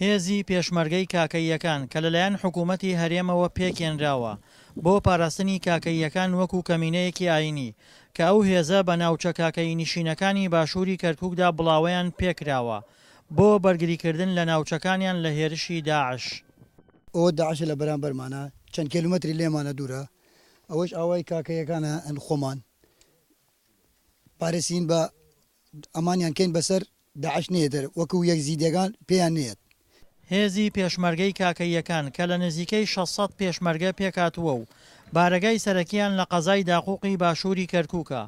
هێزی پێشمەرگەی کاکەییەکان کە لەلایەن حکوومەتی هەرێمەوە پێکهێنراوە بۆ پاراستنی کاکەییەکان وەکوو کەمینەیەکی ئایینی کە ئەو هێزە بە ناوچە کاکەیینشینەکانی باشووری کەرکووکدا بڵاوەیان پێ کراوە بۆ بەرگریکردن لە ناوچەکانیان لە هێرشی داعش. ئەوە داعشە لە بەرامبەرمانە، چەند کێلومەتری لێمانە دوورە، ئەوەش ئاوای کاکەییەکانە، هەن خۆمان پارێزین بە ئەمانیان کەین بەسەر داعش نەیەتر وەکو یەک زیدەگان پێیان نەیەت. هێزی پێشمەرگەی کاکەییەکان کە لە نزیکەی شەش سەد پێشمەرگە پێکهاتووە و بارەگای سەرەکییان لە قەزای داقووقی باشووری کەرکووکە،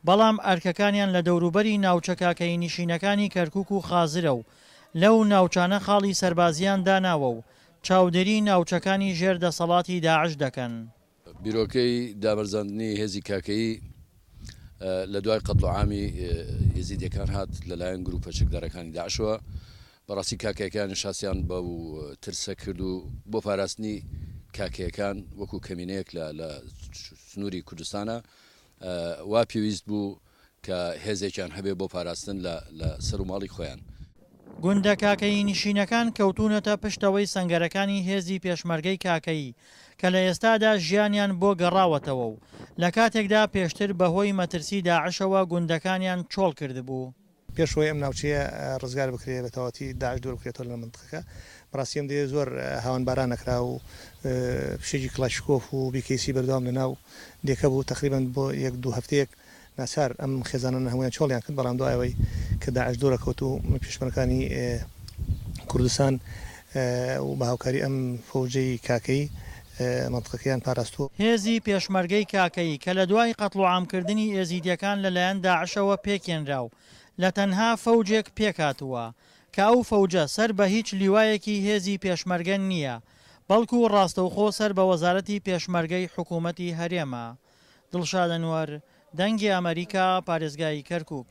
بەڵام ئەرکەکانیان لە دەوروبەری ناوچە کاکەیینشینەکانی کەرکووک و خازرە و لەو ناوچانە خاڵی سەربازییان داناوە و چاودێریی ناوچەکانی ژێر دەسەڵاتی داعش دەکەن. بیرۆکەی دابەرزاندنی هێزی کاکەیی لە دوای قەتڵوعامی یەزیدیەکان هات لەلایەن گروپە چەکدارەکانی داعشەوە بەڕاستی کاکەکانی شاسیان بە و ترسە کرد و بۆ پاراستنی کاکەیەکان وەکو کەمینەیەک لە سنووری کوردستانە وا پێویست بوو کە هێزێکیان هەبێ بۆ پاراستن لە لە سەر و ماڵی خۆیان. گوندە کاکەیی نشینەکان کەوتوونەتە پشتەوەی سەنگەرەکانی هێزی پێشمەرگەی کاکەیی کە لە ئێستادا ژیانیان بۆ گەڕاوەتەوە و لە کاتێکدا پێشتر بەهۆی مەترسی داعشەوە گوندەکانیان چۆڵ کردبوو. پێش ئەوەی ئەم ناوچەیە ڕزگار بکرێت بە تەواوەتی داعش دوور بکرێتەوە لە مەنتقەکە بەڕاستی ئەم دەیە زۆر هاوەنباران ئەکرا و فشێکی کڵاشیکۆف و بیکەیسی بەردەوام لە ناو دێکە بوو تەقریبەن بۆ یەک دوو هەفتەیەک ناچار ئەم خێزانانە هەموویان چۆڵیان کرد بەڵام دوای ئەوەی کە داعش دوورەکەوت و پێشمەرگەکانی کوردستان و بە هاوکاری ئەم فەوجەی کاکەیی مەنتقەکەیان پاراستووە. هێزی پێشمەرگەی کاکەیی کە لە دوای قەتڵوعام کردنی ئێزیدیەکان لە لایەن داعشەوە پێکهێنرا و لە تەنها فەوجێک پێکهاتووە کە ئەو فەوجە سەر بە هیچ لیوایەکی هێزی پێشمەرگە نییە بەڵکو ڕاستەوخۆ سەر بە وەزارەتی پێشمەرگەی حکوومەتی هەرێمە. دڵشاد ئەنوەر، دەنگی ئەمەریکا، پارێزگای کەرکووک.